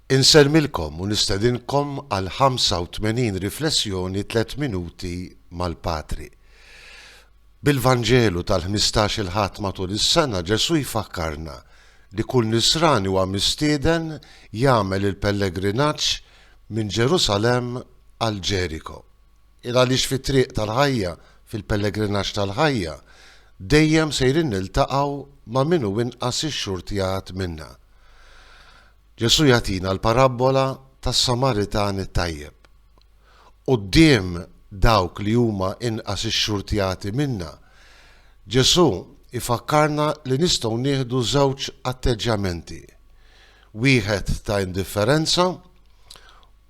Insellmilkom u nistedinkom għall-85 riflessjoni Tliet Minuti mal-Patri. Bil-Vanġelu tal-ħmistax il-Ħadd matul is-sena Ġesù jfakkarna li kull Nisrani huwa mistieden jagħmel il-pellegrinaġġ minn Ġerusalemm għal Ġeriko. Il għaliex fit-triq tal-ħajja, fil-pellegrinaġġ tal-ħajja, dejjem sejrin niltaqgħu ma' min hu inqas ixxurtjat minna. Ġesù jagħtina l-parabbola tas-Samaritan it-tajjeb. Quddiem dawk li huma inqas ixxurtjati minna, Ġesù jfakkarna li nistgħu nieħdu żewġ atteġġjamenti, wieħed ta' indifferenza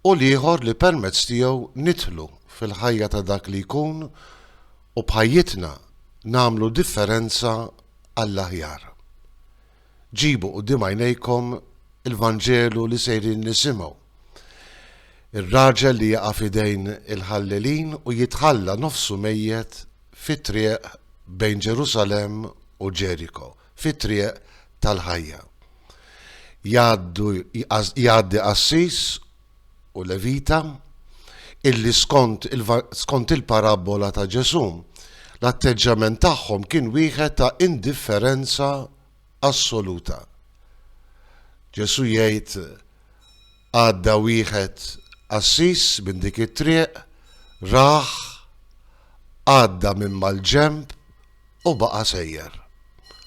u l-ieħor li permezz tiegħu nidħlu fil-ħajja ta' dak li jkun u b'ħajjitna nagħmlu differenza għall-aħjar. Ġibu quddiem għajnejkom il-Vanġelu li sejrin nisimgħu. Ir-raġel li jaqa' f'idejn il-ħallelin u jitħalla nofsu mejjet fit-triq bejn Ġerusalemm u Ġeriko. fit-triq tal-ħajja. Jgħaddu, jgħaddi qassis u levita illi skont il, skont il-parabbola ta' Ġesù, l-atteġġjament tagħhom kien wieħed ta' indifferenza assoluta. Ġesù jgħid għadda wieħed qassis minn dik it-triq, raħ, għadda minn mal-ġemb u baqa' sejjer.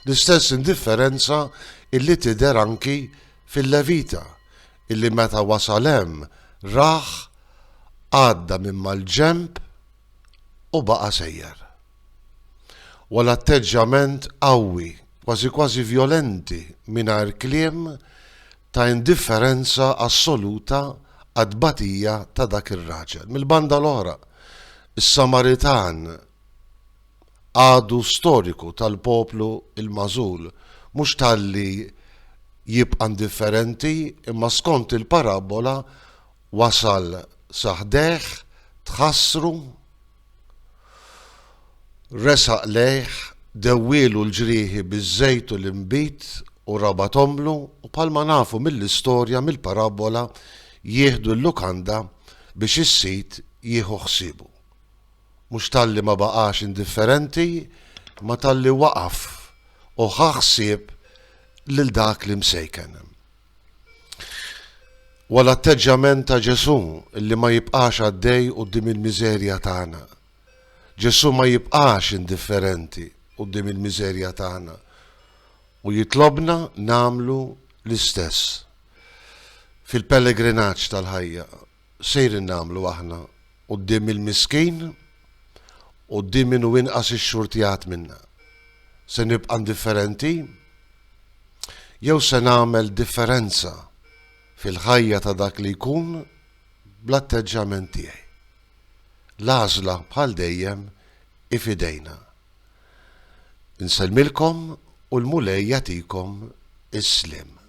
L-istess indifferenza illi tidher anki fil-Levita illi meta wasal hemm rah għadda minn mal-ġenb u baqa' sejjer. Wa l-atteġġjament qawwi, kważi kważi vjolenti mingħajr kliem ta' indifferenza assoluta għat-tbatija ta' dak ir-raġel. Mill-banda l-oħra, is-Samaritan, għadu storiku tal-poplu l-magħżul, mhux talli jibqa' indifferenti, imma skont il-parabbola wasal sa ħdejh, tħassru, resaq lejh, dewwielu l-ġrieħi biż-żejt u l-inbid u rabathomlu u bħalma nafu mill-istorja, mill-parabbola, jieħdu l-lukanda biex is-sid jieħu ħsiebu. Mhux talli ma baqax indifferenti ma talli waqaf u ħa ħsieb lil dak l-imsejken. Huwa l-atteġġjament ta' Ġesù li ma jibqax għaddej quddiem il-miżerja tagħna. Ġesù ma jibqax indifferenti quddiem il-miżerja tagħna u jitlobna nagħmlu l-istess. Fil-pellegrinaġġ tal-ħajja sejrin nagħmlu aħna quddiem il-miskin, quddiem min hu inqas ixxurtjat minna? Se nibqa' indifferenti? Jew se nagħmel differenza fil-ħajja ta' dak li jkun bl-atteġġjament tiegħi? L-għażla bħal dejjem hi f'idejna. Insellmilkom u l-Mulej jagħtikom is-sliem.